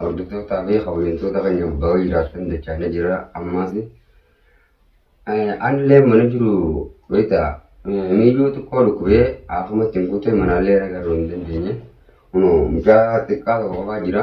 Hordoftoota fi kabajamtoota keenya baga jiraattan jechaa ni jira ammaas anillee mana jiru beekta miiluu xiqqoo dhukkubee akkuma ittiin guute manaallee ragaruu hin dandeenye mucaa xiqqaa tokko qofaa jira.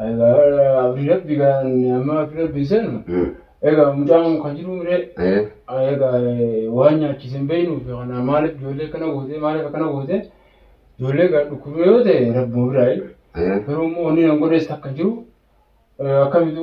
Abdii rabbi amma akka rabbi sanu egaa mucaan kan jiru mire egaa waan nyaachise hin beeknuuf kana maaliif ijoollee akkana goote maaliif akkana goote ijoollee egaa dhukkubee yoo ta'e rabbuma biraayi garuu immoo wanni nan godhees takka hin jiru akkamitu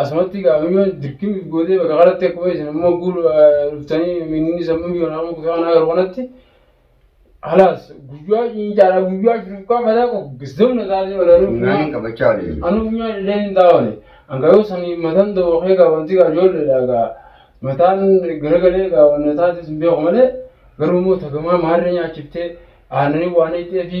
Asumatti egaa amma yoo dirqii nuuf gootee bakka kanatti akkuma isin amma guul dhuftanii minni sammuu yoo nama kutaa kanaa garuu kanatti halaas guyyaa ciincaadha guyyaa shurkaa fataa qofa zamna taatee walaa nuuf Funyaan hin qabachaa waliin jiru. anu funyaan illee hin taa'one hanga yoo sanii mataan dawwaqee egaa wanti egaa ijoolleedha egaa mataan garagalee egaa wanna taate sun beeku malee garuu immoo tagamaa maarree nyaachiftee aannanii waan hidhee fi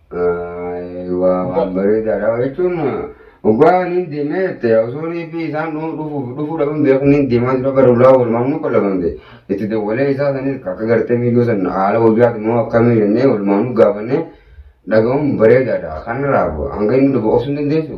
Waa waan bareedaadha jechuun dhugaa niin deemee jette osoo reebbii isaan dhufuuf dhufuu dhabuun beeku niin deemaa jira bara ulaa walumaan nu qallabamte itti dawwalee isaa sanis akka gartee miidiyoo san haala wabiyaati moo akkamii jennee walumaan nu gaafannee dhaga'uun bareedaadha kanarraa hanga inni dhufu obsuun dandeessu.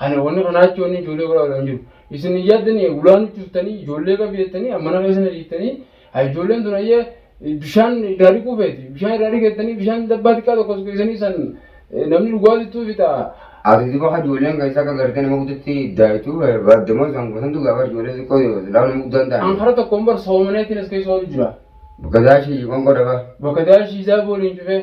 Ani wanni kanaa jechuun wanni ijoollee godhaa godhaa hin jiru. Isin hin yaaddanii ulaa nutti dhuftanii ijoollee qabi jettanii mana keessa na dhiiftanii haa ijoolleen tun ayyee bishaan irraa dhiquu feeti. Bishaan irraa dhiqettanii bishaan dabbaa xiqqaa tokko tokko isanii san eh, namni dhugaa jechuu fi ta'a. Ati duba ka ijoolleen keessa akka gartee nama guddatti daayituu baaddamoo isaan gosantu gaafa ijoollee xiqqoo silaa nama guddaan An ta'an. kara tokkoon bar soomaneetiin as keessa oolu jira. Gadaa ishii qoonqoo dhabaa. Bakka daashii isaa booliin cufee.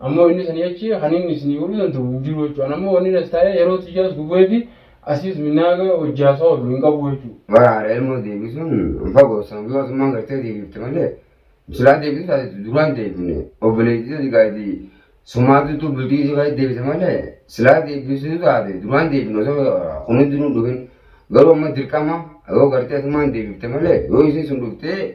Ammoo inni sanii achi kan inni isinii godhuu danda'u hin jiru jechuudha. An ammoo wanni as taa'ee yeroo tiyyaas gubee fi asiis minnaaga hojjaasaa oolu hin qabu jechuudha. Bara haadha ilmoo deebisuun hin fagoo sababii mootummaan gartee deebifte malee silaa deebisu taate duraan deebifne obboleettii tati gaadii sumaatutu bultii isii keessatti deebite malee silaa deebisuu taate duraan deebifne osoo kunis duruu dhufin garuu amma dirqama yoo gartee asumaan deebifte malee yoo isiin sun dhuftee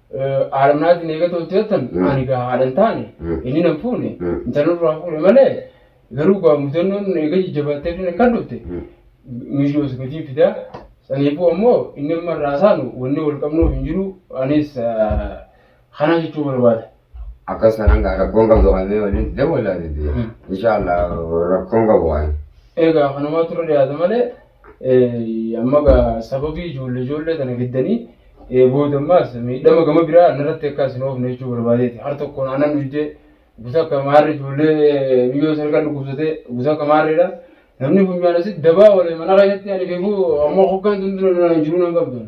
haadha manaatiin eegatoo itti jettan ani gaa haadha hin taane inni nan fuune intalli irraa fuune malee garuu gaa mudannoon eega jajjabaattee inni kan dhufte miidhoo sagatii fidaa saniifuu ammoo inni amma irraa saanu wanni wal qabnuuf hin jiru anis kana jechuu barbaada. Akkas kanaan gaa rakkoon qabdu kannee waliin dawwalaa didee. Inshaallah rakkoon qabu waan. Egaa kanumaa turre dhiyaata malee Amma egaa sababii ijoollee ijoollee tana fiddanii booda ammaas miidhama gama biraa narratti akka isin oofne jechuu barbaadeeti. Har tokkoon aanan dhuydee gusa akka maarri ijoollee miyyoo sarka dhukkubsatee gusa akka maarreedha. Namni funyaan asitti dabaa walee mana keessatti ani beeku amma hoggaan tun dura jiru nan qabdan.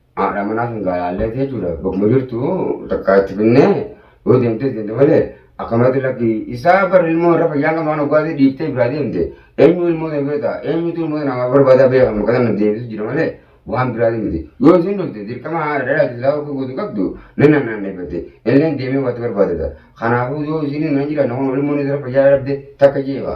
Haadha manaa sun gaalaallee jechuudha. Bakkuma jirtu takkaa itti finnee yoo deemtee deemte malee akkamatti lakki isaa bar ilmoo irra fayyaan qabna waan oggaatee dhiiftee biraa deemte eenyu ilmoo ta'e beektaa eenyutu ilmoo ta'e namaa barbaadaa beeka maqaa sana deebisu jira malee waan biraa deemte yoo isin dhufte dirqama haadha dhalaa itti isaa okkuu guutuu qabdu ni nannaanneeffate illeen deemee waatti barbaadata kanaafuu yoo isin hin jira namoonni ilmoon irra fayyaa dhabde takka jeefa.